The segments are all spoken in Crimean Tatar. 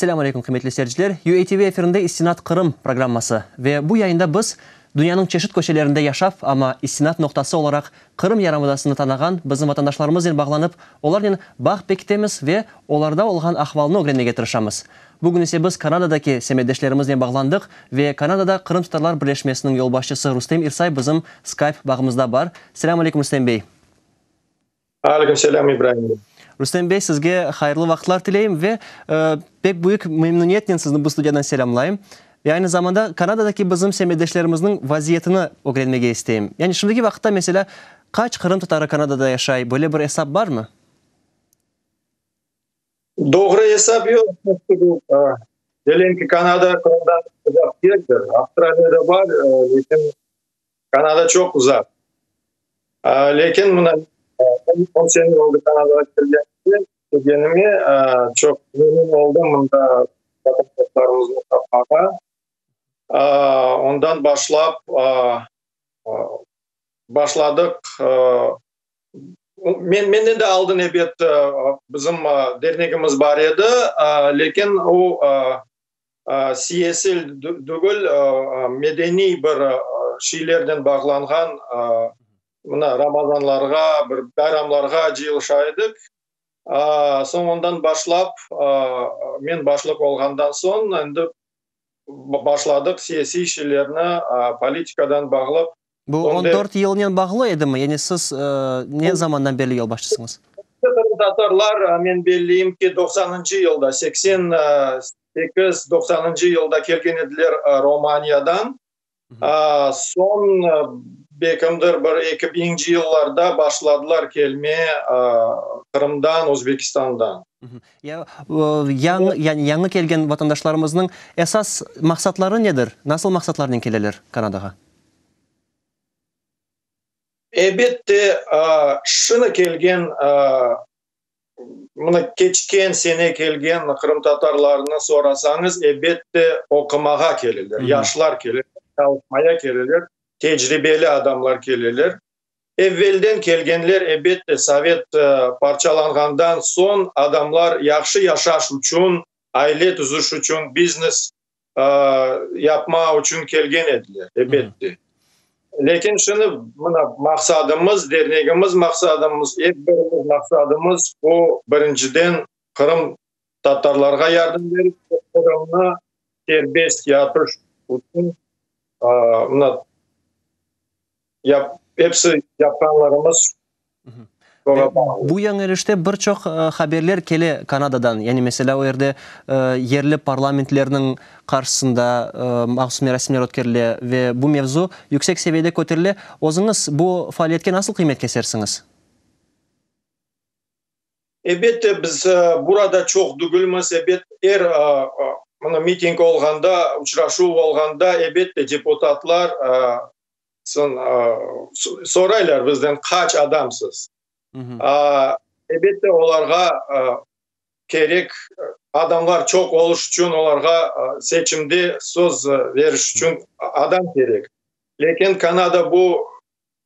Selâm aleyküm, qıymetli seyirciler! UATV efirinde İstinat Qırım programması. Ve bu yayında biz dünyanıñ çeşit köşelerinde yaşap, amma istinat noqtası olaraq Qırım yarımadasını tanağan bizim vatandaşlarımıznen bağlanıp, olarnen bağ pekitemiz ve olarda olğan ahvalnı ögrenmege tırışamız. Bugün ise biz Kanadadaki semetdeşlerimiznen bağlandıq ve Kanadada Qırımtatarlar birleşmesiniñ yolbaşçısı Rustem İrsay bizim Skype bağımızda bar. Selâm aleyküm, Rustem bey! Aleyküm selâm İbrahim bey. Rustem bey, sizge hayırlı vaqıtlar tileyim ve pek büyük memnuniyetnen sizni bu studiyadan selâmlayım. Ve aynı zamanda Kanadadaki bizim semetdeşlerimizniñ vaziyetini ögrenmege isteyim. Yani şimdiki vaqıtta meselâ qaç Qırım tatarı Kanadada yaşay, böyle bir esap barmı? Doğru esap yoq. Diyelim ki Kanada Qırımdan uzaq degildir. Avstraliyada bar, lekin Kanada çoq uzaq. Lâkin mına on sene oldı Kanadağa kelgenimden, kelgenime, çoq memnün oldım mında vatandaşlarımıznı tapmağa. Ondan başlap başladıq, men, menden de aldın ebet bizim dernegimiz bar edi, lâkin o Siyasil degil, medeniy bir şeylerden bağlanğan mına Ramazanlarğa, bir bayramlarğa cıyılışa edik. Soñ ondan başlap, men başlıq olğandan soñ endi başladıq siyasiy şeylerni politikadan bağlı Bu on dört yılnen bağlı edimi? Yani siz ne zamandan berli yolbaşçısıñız? Qırımtatarlar, men belliyim ki, doqsanıncı yılda, seksen sekiz, doqsanıncı yılda kelgen ediler Romaniyadan. Soñ bekimdir bir eki biñinci yıllarda başladılar kelmeye Qırımdan, Özbekistandan. Yani yañı kelgen vatandaşlarımıznıñ esas maqsatları nedir? Nasıl maqsatlarnen keleler Kanadağa? Elbette, şına kelgen, mına keçken sene kelgen qırımtatarlarnı sorasañız, elbette, oqumağa keleler, yaşlar keleler, çalışmaya keleler, tecribeli adamlar keleler. Evvelden kelgenler, elbette, sovet parçalanğandan soñ adamlar yahşı yaşaş içün, aile tüzüş içün, biznes yapmağa içün kelgen ediler, elbette. Lâkin şimdi mına maqsadımız, dernegimiz maqsadımız, er birimiz maqsadımız, o, birinciden, qırımtatarlarğa yardım berip, Qırımda serbest yatış içün, mına, Yap, episi yapqanlarımız Ve bu yañılışta bir çoq haberler kele Kanadadan, yani meselâ o yerde yerli parlamentlerniñ qarşısında mahsus merasimler ötkerile ve bu mevzu yüksek seviyede köterile. Özüñiz bu faaliyetke nasıl qıymet kesersiñiz? Elbette, biz burada çoq degilmiz. Elbette, er miting olğanda, uçrashuv olğanda, elbette, deputatlar Soñ soraylar bizden, qaç adamsız? Elbette, olarğa kerek adamlar çoq olış içün, olarğa seçimde söz beriş içün adam kerek. Lâkin Kanada bu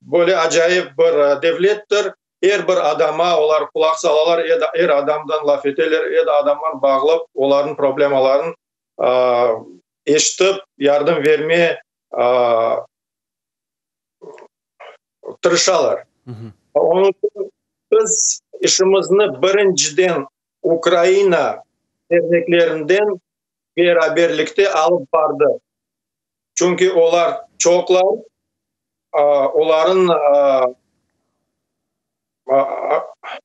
böyle acayip bir devlettir, er bir adama olar qulaq salalar, er adamdan laf eteler, er adamı bağlap, olarnıñ problemalarını eşitip, yardım berme tırışalar. Onıñ içün biz işimizni birinciden Ukraina derneklerinden beraberlikte alıp bardıq. Çünki olar çoqlar, olarnıñ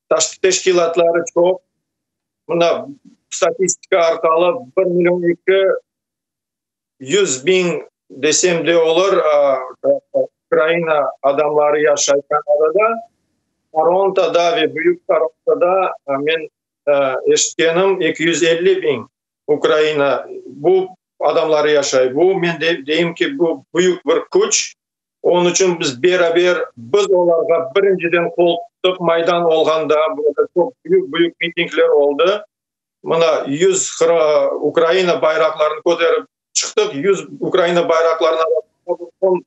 tashqi teşkilâtları çoq. Mına, statistika arqalı bir million eki Yüz biñ desem de olur, Ukraina adamları yaşayken orada, Torontoda ve Büyük Torontoda men eşitkenim, eki yüz elli biñ Ukraina bu adamları yaşay. Bu, men deyim ki, bu büyük bir küç. Onıñ içün biz beraber, biz olarğa birinciden qol tuttık, Maydan olğanda, burada çoq büyük-büyük mitingler oldı. Mına, yüz Ukraina bayraqlarını köterip çıqtıq, yüz Ukraina bayraqlarını alıp,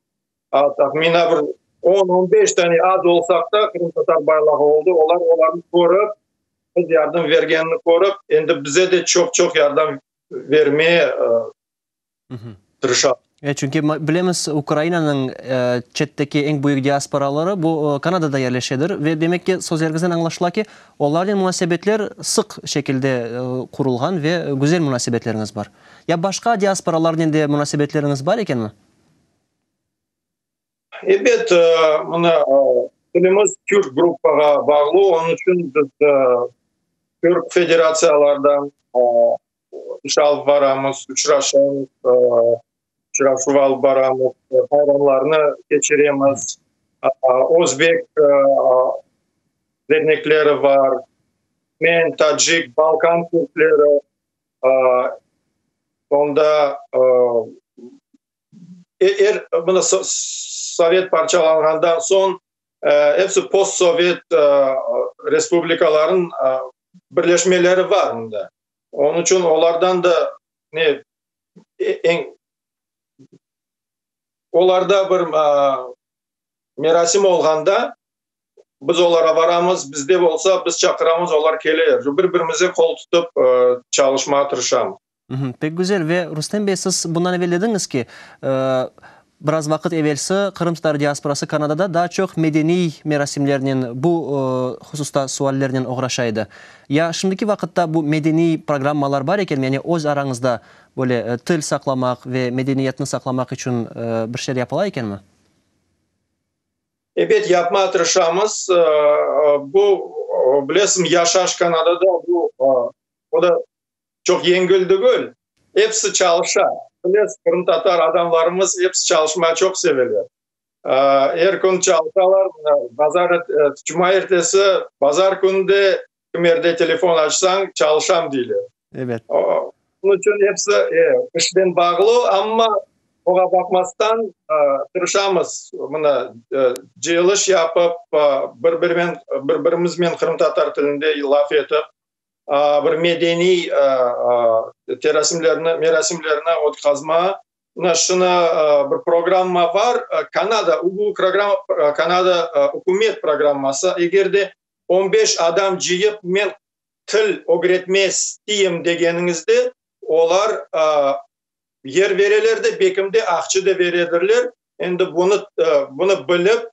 tahminen bir on, on beş tane az olsaq da qırımtatar bayrağı oldı, olar olarnı körip, biz yardım bergenini körip, endi bize de çoq-çoq yardım bermeye tırışamız. E, çünki bilemiz, Ukrainanıñ çetteki eñ büyük diasporaları bu Kanadada yerleşedir ve, demek ki, sözleriñizden añlaşıla ki, olarnen munasebetler sıq şekilde qurulğan ve güzel munasebetleriñiz bar. Ya başqa diasporalarnen de munasebetleriñiz bar ekenmi? Ebet, mına, tilimiz türk gruppağa bağlı, onıñ içün biz türk federatsiyalardan iş alıp baramız, uçraşamız, uçrashuv alıp baramız, bayramlarnı keçiremiz. Özbek dernekleri bar, men, tacik, balkan türkleri, onda Er, mına, sovet parçalanğandan soñ episi postsovet respublikalarnıñ birleşmeleri bar mında. Onıñ içün olardan da ne, eñ, olarda bir merasim olğanda biz olara baramız, bizde olsa biz çaqıramız, olar kele, bir-birimizge qol tutıp çalışmağa tırışamız. Pek güzel. Ve Rustem bey, siz bundan evel dediñiz ki, biraz vaqıt evelsi qırımtatar diasporası Kanadada daa çoq medeniy merasimlernen, bu hususta suallernen oğraşa edi. Ya şimdiki vaqıtta bu medeniy programmalar bar ekenmi, yani öz arañızda böyle til saqlamaq ve medeniyetni saqlamaq içün bir şeyler yapıla ekenmi? Ebet, yapmağa tırışamız. Bu, bilesiñ, yaşayış Kanadada, o da Çoq yengil degil, episi çalışa. Bilesiz, qırımtatar adamlarımız episi çalışmayı çoq seveler. Er kün çalışalar, bazar, cuma ertesi, bazar künü de kim yerde telefon açsañ, çalışam deyler. Evet. Bunıñ içün episi işnen bağlı, amma oña baqmastan tırışamız, mına, cıyılış yapıp, bir-birimiznen qırımtatar tilinde laf etip, bir medeniy merasimlerni ötkazma şunı bir programma bar, Kanada, bu program Kanada ükümet programması, eger de on beş adam cıyıp men til ögretme isteyim degeniñizde olar yer bereler de, bekim de, aqçı da beredirler, Endi bunı bunı bilip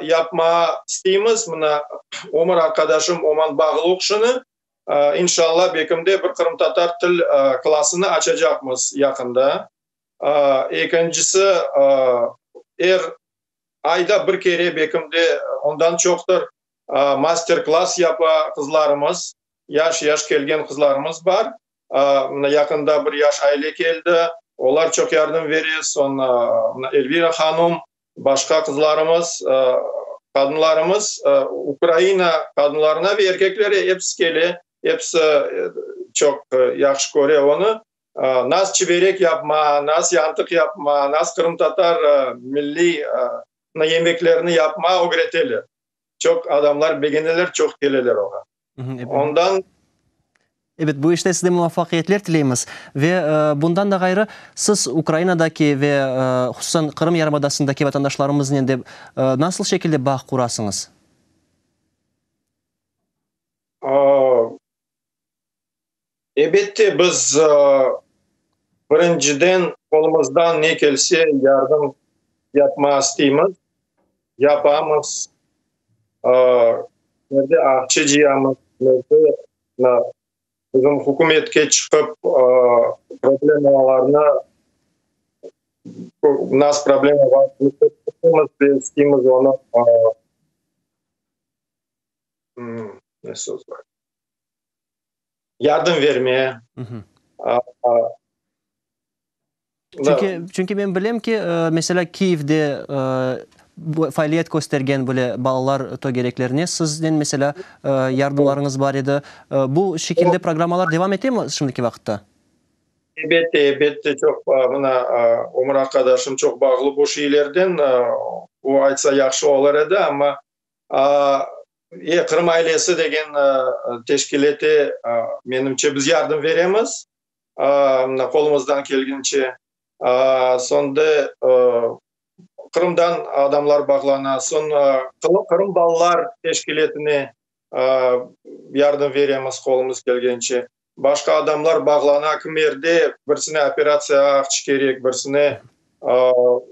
yapmağa isteymiz. Mına, ömür arqadaşım Oman Bağluq şunı, inşallah, bekimde bir qırımtatar til klassını açacaqmız yaqında. Ekincisi, er ayda bir kere, bekimde ondan çoqtır, master klass yapa qızlarımız, yaş-yaş kelgen qızlarımız bar. Mına yaqında bir yaş aile keldi, olar çoq yardım bere, soñ Elvira hanum, başqa qızlarımız, qadınlarımız, Ukraina qadınlarına ve erkeklere episi kele, episi çoq yahşı köre onı. Nas çiberek yapma, nas yantıq yapma, nas qırımtatar milliy yemeklerini yapma ögreteler. Çoq adamlar begeneler, çoq keleler oña. Ondan. Ebet, bu işte size muvafaqiyetler tileymiz. Ve bundan da ğayrı, siz Ukrainadaki ve hususan Qırım yarımadasındaki vatandaşlarımıznen de nasıl şekilde bağ qurasıñız? Ebette, biz, birinciden, qolumızdan ne kelse yardım yapmağa isteymiz, yapamız, merde aqça cıyamız, merde bizim hükümetke çıqıp problemlarnı, nas problema bar, isteymiz onı, ne söz var? yardım verme. Çünki men bilem ki, mesela Kiyevde faaliyet köstergen böyle balalar tögereklerine sizden mesela yardımlarıñız bar edi. Bu şekilde programmalar devam ete mi şimdiki vaqıtta? Elbette, elbette, çoq, mına Ömür arqadaşım çoq bağlı bu şeylerden, o aytsa yahşı olar edi, amma E, Qırım ailesi degen teşkilâte, menimce, biz yardım beremiz, mına, qolumızdan kelgince. Sonde Qırımdan adamlar bağlana, soñ Qırım balalar teşkilâtine yardım beremiz, qolumız kelgince. Başqa adamlar bağlana, kimerde birsine operatsiya aqç kerek, birsine,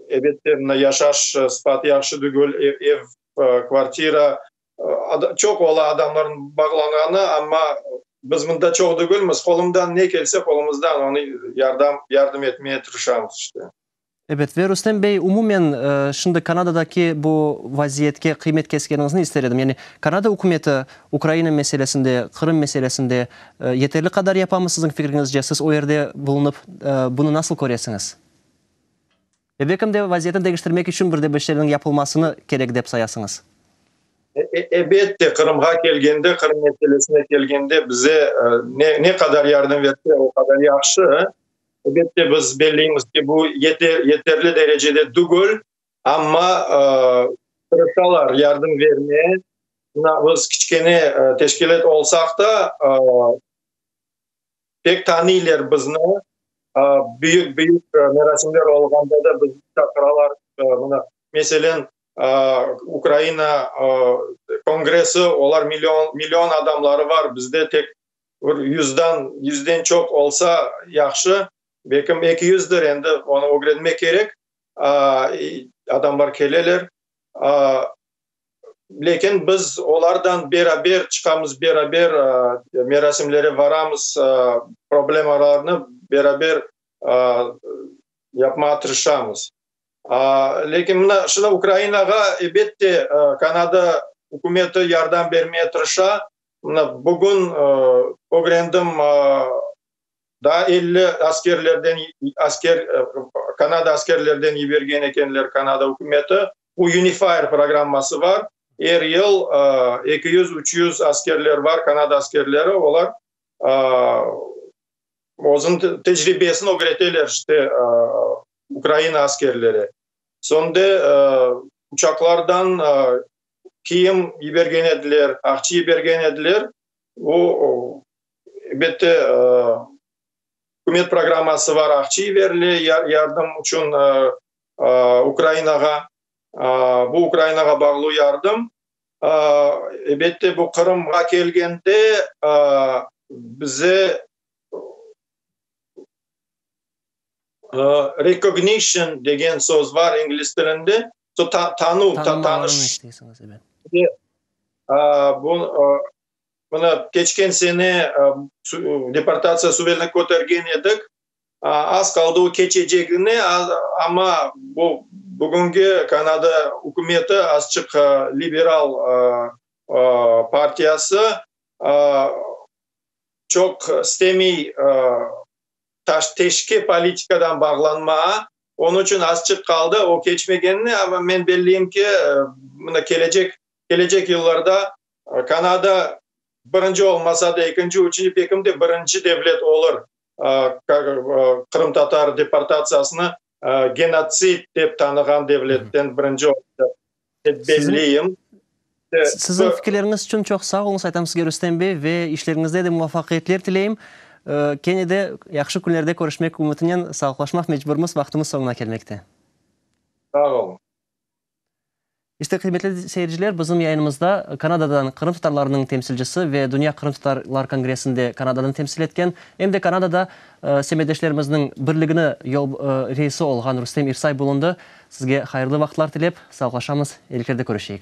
elbette, mına, yaşaş sıfatı yahşı degil, ev kvartira, çoq ola adamlarnıñ bağlanğanı, amma biz mında çoq degilmiz, qolumdan ne kelse, qolumızdan onı yardam, yardım etmeye tırışamız işte. Ebet, ve Rustem bey, umumen, şimdi Kanadadaki bu vaziyetke qıymet keskeniñizni ister edim. Yani Kanada ükümeti Ukraina meselesinde, Qırım meselesinde yeterli qadar yapamı, siziñ fikriñizce? Siz o yerde bulunıp, bunı nasıl köresiñiz? Ebekim de vaziyetni deñiştirmek içün bir de bir şeylerniñ yapılmasını kerek dep sayasıñız? Ebette, Qırımğa kelgende, Qırım meselesine kelgende bize ne qadar yardım etse, o qadar yahşı. Ebette, biz belleymiz ki, bu yeterli derecede degül, amma tırışalar yardım bermeye. Biz kiçkene teşkilât olsaq da, Pek tanıylar bizni, büyük-büyük merasimler olğanda da bizni çaqıralar. Mına, meselen, Ukraina Kongressi, olar million, million adamları bar, bizde tek bir yüzden, yüzden çoq olsa yahşı, belki eki yüzdir, endi onı ögrenmek kerek, adamlar keleler. Lâkin biz olardan beraber çıqamız, beraber merasimlere baramız, problemalarnı beraber yapmağa tırışamız. Lâkin mına şunı Ukrainağa ebet de Kanada ükümeti yardım bermege tırışa. Mına bugün ögrendim, daa elli askerlerden, asker, Kanada askerlerden yibergen ekenler Kanada ükümeti. UNIFIER programması bar. Er yıl eki yüz, üç yüz askerler bar, Kanada askerleri, olar özün tecribesini ögreteler işte Ukraina askerleri. Soñ de uçaqlardan kiyim yibergen ediler, aqçı yibergen ediler. O, elbette, ükümet programması bar, aqçı yiberile yardım içün Ukrainağa, bu Ukrainağa bağlı yardım. Ebette, bu Qırımğa kelgende, bize recognition degen söz bar ingliz tilinde, tanuv, tanış. Bunı keçken sene deportatsiya suvelini kötergen edik. Az qaldı o keçecegine, amma bu bugünki Kanada ükümeti azçıq liberal partiyası çoq istemey teşke politikadan bağlanmağa, onıñ içün azçıq qaldı o keçmegenine, amma men belleyim ki, mına kelecek kelecek yıllarda Kanada birinci olmasa da, ekinci, üçünci, bekimde birinci devlet olur qırımtatar deportatsiyasını genotsid dep tanığan devletten birinci oldı, dep belleyim. Siziñ fikirleriñiz içün çoq sağ oluñız, aytam sizge, Rustem bey, ve işleriñizde de muvafaqiyetler tileyim. Kene de yahşı künlerde körüşmek ümütinen sağlıqlaşmaq mecburmız, vaqtımız soñuna kelmekte. Sağ oluñ. İşte, qıymetli seyirciler, bizim yayınımızda Kanadadan qırımtatarlarnıñ temsilcisi ve Dünya qırımtatarlar kongressinde Kanada'nı temsil etken, em de Kanada'da semetdeşlerimizniñ birligini reisi olğan Rustem İrsay bulundı. Sizge hayırlı vaqıtlar tilep, sağlaşamız, eliklerde körüşeyik.